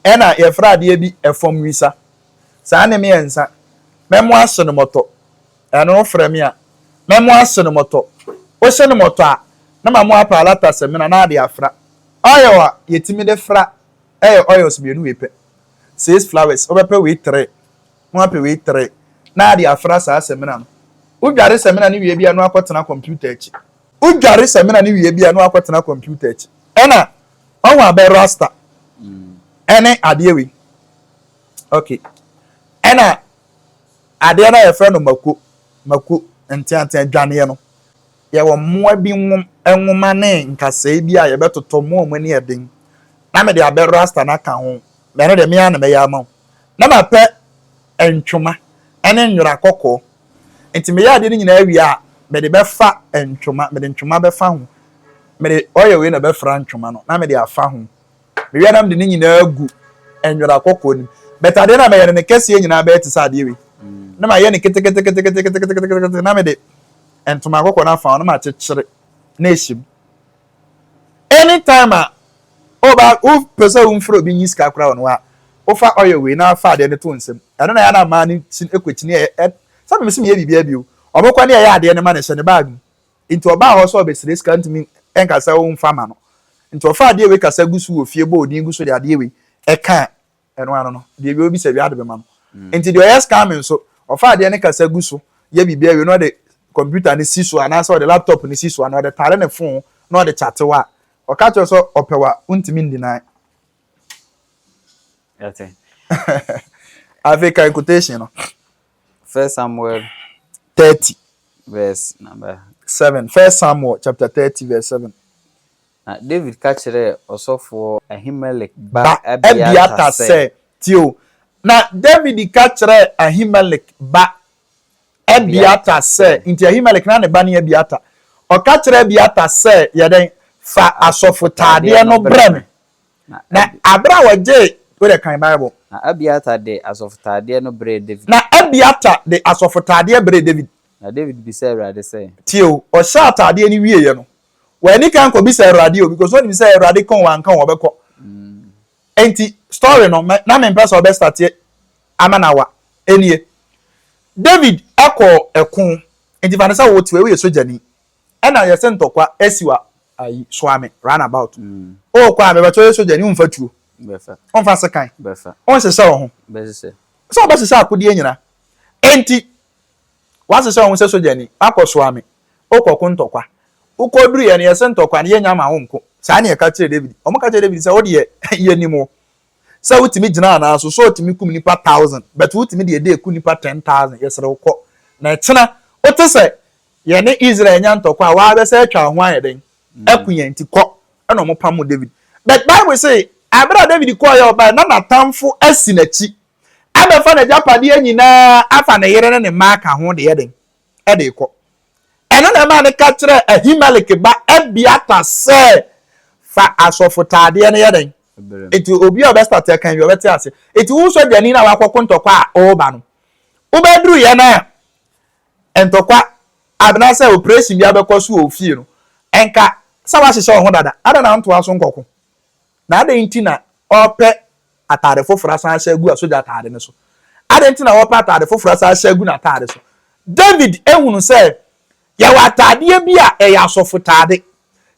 Speaker 1: ɛna yɛfrɛ adeɛ bi ɛfam wisa saa ne mmiɛnsa mɛmo ahye no mɔtɔ ɛno wofrɛ me a mɛmo ahye no mɔtɔ wohye no mɔtɔ a na ma mo apa alata semina na ade afra oil a yɛtumi de fra ɛyɛ oils mmienu wei pɛ six flowers wobɛpɛ wei three ho apewee tere na ade afra saa samina no. Wodware samina no wie bi a na wakɔtena kɔmputa akyi. Wodware samina no wie bi a na wakɔtena kɔmputa akyi. Ɛna wahu abɛ rasta ɛne adeɛ wei. Ok. Ɛna adeɛ no a yɛfrɛ no mako, mako, nteantea dwaneɛ no, yɛwɔ mmoa bi nwom, nwoma ne nkasɛɛ bi a yɛbɛtotɔ mmoa a wɔn ani yɛ den na mede abɛ rasta no aka ho. Na ɛno deɛ, me ara na mɛyɛ ama wo. Na mapɛ ntwoma ne nwera kɔkɔɔ. Enti meyɛ adeɛ no nyinaa wie a, mede bɛfa ntwoma, mede ntwoma bɛfa ho, mede oil wei na ɛbɛfra ntwoma no, na mede afa ho. Mewie a, na mede ne nyinaa agu nwera kɔkɔɔ no mu. But adeɛ no a mɛyɛ no, ne kɛseɛ nyinaa bɛyɛ te sɛ adeɛ wei. Na mayɛ no keteketeketeketekete, na mede ntoma kɔkɔɔ no afa ho, na makyekyere na ahyɛ mu. Anytime a ɔba wopɛ sɛ womfrɛ obi nyi sika koraa wɔ no hɔ a, wofa oil wei na fa adeɛ no to nsam. Ɛno na ɛyɛ na mmaa no kyin ɛkɔ kyini ɛ ɛ sɛ meme se meyɛ biribiara bio. Wɔn kɔ ne ɛyɛ adeɛ no ma no hyɛ ne bag mu. Nti ɔbaa hɔ sɛ ɔbɛsrɛ sika ntumi nka sɛ womfa ma no. Nti ɔfa adeɛ wei kasa gu so wɔ fie bɔ odin gu so de adeɛ wei ɛka Ɛno ano no, deɛ ɔwie bisa wie ade bɛma no. Enti deɛ ɔyɛ scamming nso, ɔfa adeɛ no kasa gu so yɛ biribi awie na ɔde computer no si so anaasɛ ɔde laptop no si so anaa ɔde tare ne phone na ɔde chate wo a, ɔka kyerɛ wo sɛ ɔpɛ wo a, wontumi n-deny.
Speaker 2: Yɛte.
Speaker 1: Afei kan quotation no. First Samuel. Thirty. Verse
Speaker 2: number. Seven. First
Speaker 1: Samuel chapter thirty verse seven. Na
Speaker 2: Dawid ka
Speaker 1: kyerɛɛ
Speaker 2: ɔsɔfoɔ
Speaker 1: Ahimelek
Speaker 2: ba ba
Speaker 1: Abiatar
Speaker 2: Abiatar sɛ. sɛ,
Speaker 1: Tie
Speaker 2: o.
Speaker 1: Na Dawid ka kyerɛɛ Ahimelek ba Abiatar Abiatar sɛ, sɛ. Enti Ahimelek, na ne ba ne Abiatar. Ɔka kyerɛɛ Abiatar sɛ, Yɛ dɛn? Fa Fa asɔfotaadeɛ asɔfotaadeɛ no no brɛ brɛ me. me. Na Na Abi. berɛ a ɔgyee, wo deɛ kan Bible. Na Abiatar de
Speaker 2: asɔfotaadeɛ no brɛɛ Dawid. Na Abiatar
Speaker 1: de asɔfotaadeɛ brɛɛ Dawid. Na Dawid bisaa
Speaker 2: Awurade sɛ. Tie o. Ɔhyɛɛ
Speaker 1: ataadeɛ no wieeɛ no, wɔani kan kɔbisa awurade o because wɔnim sɛ awurade ka wɔn anka wɔbɛkɔ nti story no na mempɛ sɛ ɔbɛ starteɛ ama na wa ɛnie david ɛkɔ ɛko nti fa ne sɛ wo teɛ woyɛ sogyani ɛna yɛsɛ ntɔkwa ɛsi wa ayi soame run about mm. o kɔ a mebɛtɔ yɛ sogyani womfa tuo womfa
Speaker 2: sekan
Speaker 1: wonsesɛ wo
Speaker 2: ho
Speaker 1: sɛ
Speaker 2: wobɛsesɛ
Speaker 1: akodeɛ nyina nti Woasesɛ wo ho sɛ sogyani, woakɔsoa me, wokɔko ntɔkwa. Wokɔduruiɛ no, yɛse ntɔkwa no yɛnnya ma wo nko. Saa na yɛka kyerɛɛ Dawid. Wɔka kyerɛɛ Dawid sɛ, Wo deɛ, yɛnnim wo, sɛ wotumi gyina anaa so, Saul tumi kum nnipa thousand, but wotumi de ɛda ɛku nnipa ten thousand. Yɛsrɛ wo, kɔ, na kyena wote sɛ yɛne Israel anya ntɔkwa a, woabɛsɛ atwa wo ho ayɛ dɛn aku yɛn, nti kɔ. Ɛna wɔpamoo Dawid. But Bible se, berɛ a Dawid kɔeɛ a ɔbaeɛ, na n'atamfo asi n'akyi. abɛfa n'agyapadeɛ nyinaa afa ne yere ne ne mma aka ho de yɛ dɛn? De rekɔ. Ɛno na ɛmaa no ka kyerɛɛ Ahimelek ba Abiatar sɛ, Fa asɔfotaadeɛ no yɛ dɛn? Enti obi a ɔbɛstate akan bi, ɔbɛte ase. Enti wo sogyani no a wakɔko ntɔkwa a ɔreba no, wobɛduruiɛ no a ntɔkwa anaasɛ operation bi abɛkɔ so wɔ wo fie no, ɛnka sɛ woahyehyɛ wo ho dada, adɛn na wontoa so nkɔko? Na adɛn nti na ɔrepɛ atade foforo asan ahyɛ agu asogya atade no so? Adɛn nti na ɔrepɛ atade foforo asan ahyɛ agu n'atade so? David hunu sɛ yɛwɔ atadeɛ bi a ɛyɛ asɔfotade.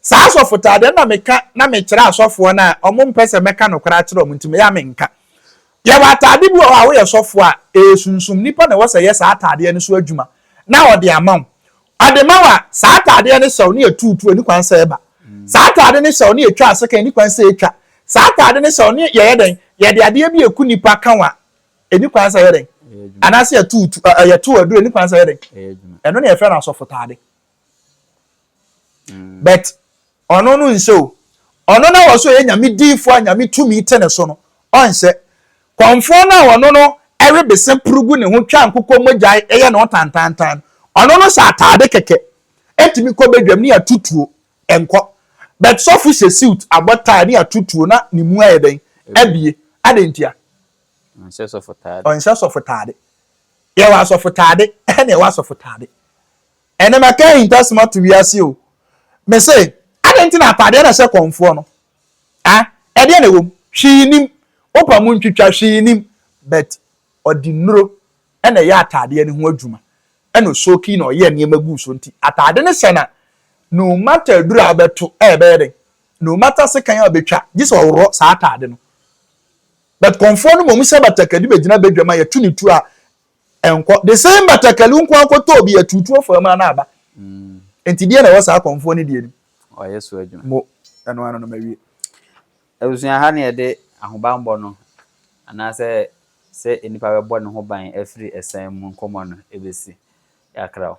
Speaker 1: Saa asɔfotade no na meka na mekyerɛ asɔfoɔ no a wɔmpɛ sɛ mɛka nokorɛ akyerɛ wɔn nti meyɛ a menka. Yɛwɔ atade bi wɔ hɔ a woyɛ sɔfoɔ a, ɛyɛ sunsum. Nnipa na ɛwɔ sɛ ɛyɛ saa atadeɛ no so adwuma na wɔde ama wo. Ademaw a saa ataadeɛ no hyɛw no yɛ tuutuu, ɛni kwan sɛ ɛba. Saa ataade no hyɛw no yɛ twa asekan, ɛni kwan sɛ ɛtwa. Saa ataade no hyɛw no yɛyɛ dɛn? Yɛde adeɛ bi ɛku nipa ka ho a, ɛni kwan sɛ ɛyɛ dɛn? Anaasɛ yɛtuutu, ɛ, yɛtow aduro, ɛni kwan sɛ ɛyɛ dɛn? Ɛno na yɛfrɛ no asɔfotaade. But Ɔno no nhyɛ o. Ɔno na wɔse ɔyɛ Nyame diyifoɔ a Nyame tumi te ne so no, ɔnhyɛ. Kɔmfoɔ no a ɔno no we bese poro gu ne ho twa nkokɔ mogya yɛ ne ho tantaantan no, ɔno no hyɛ ataade kɛkɛ, ɛntumi kɔ badwam ne ato tuo, ɛnkɔ. But sɔfo hyɛ suit, abɔ tie ne ato tuo na ne mu ayɛ dɛn? Abue. Adɛn ntia? Ɔnhyɛ
Speaker 2: sɔfo taade. Ɔnhyɛ sɔfo taade. Yɛwɔ
Speaker 1: asɔfo taade na ɛwɔ asɔfo taade. Ɛnɛ maka ahintasɛm ato wiase o. Me se, adɛn nti na ataadeɛ na ɛhyɛ kɔmfoɔ no? Ah, ɛdeɛn na ɛwɔ mu? Hwee nnim. Wopa mu ntwitwa, hwee nnim. But ɔde nnuro na ɛyɛ ataadeɛ no ho adwuma, ɛna ɔsoakii na ɔyɛɛ nneɛma guu so nti ataade no hyɛ no a, no matter aduro a wobɛto a ɛbɛyɛ dɛn, no matter sekan a wobɛtwa, gye sɛ ɔworɔ saa ataade no. But kɔmfoɔ no mmom hyɛ batakari bɛgyina badwam a yɛto no tuo a, Ɛnkɔ. The same batakali nko ara kɔtɔ obi atutu ɔfaa mu ana aba. Nti deɛ na ɛwɔ saa kɔmfoɔ no deɛ nim. Wayɛ so adwuma. Mo,
Speaker 2: ɛno ano no
Speaker 1: mawie. Abusua
Speaker 2: ha na yɛde ahobanbɔ no anaasɛ sɛ nnipa bɛbɔ ne ho ban afiri ɛsan mu nkɔmmɔ no bɛsi. Yɛakra wo.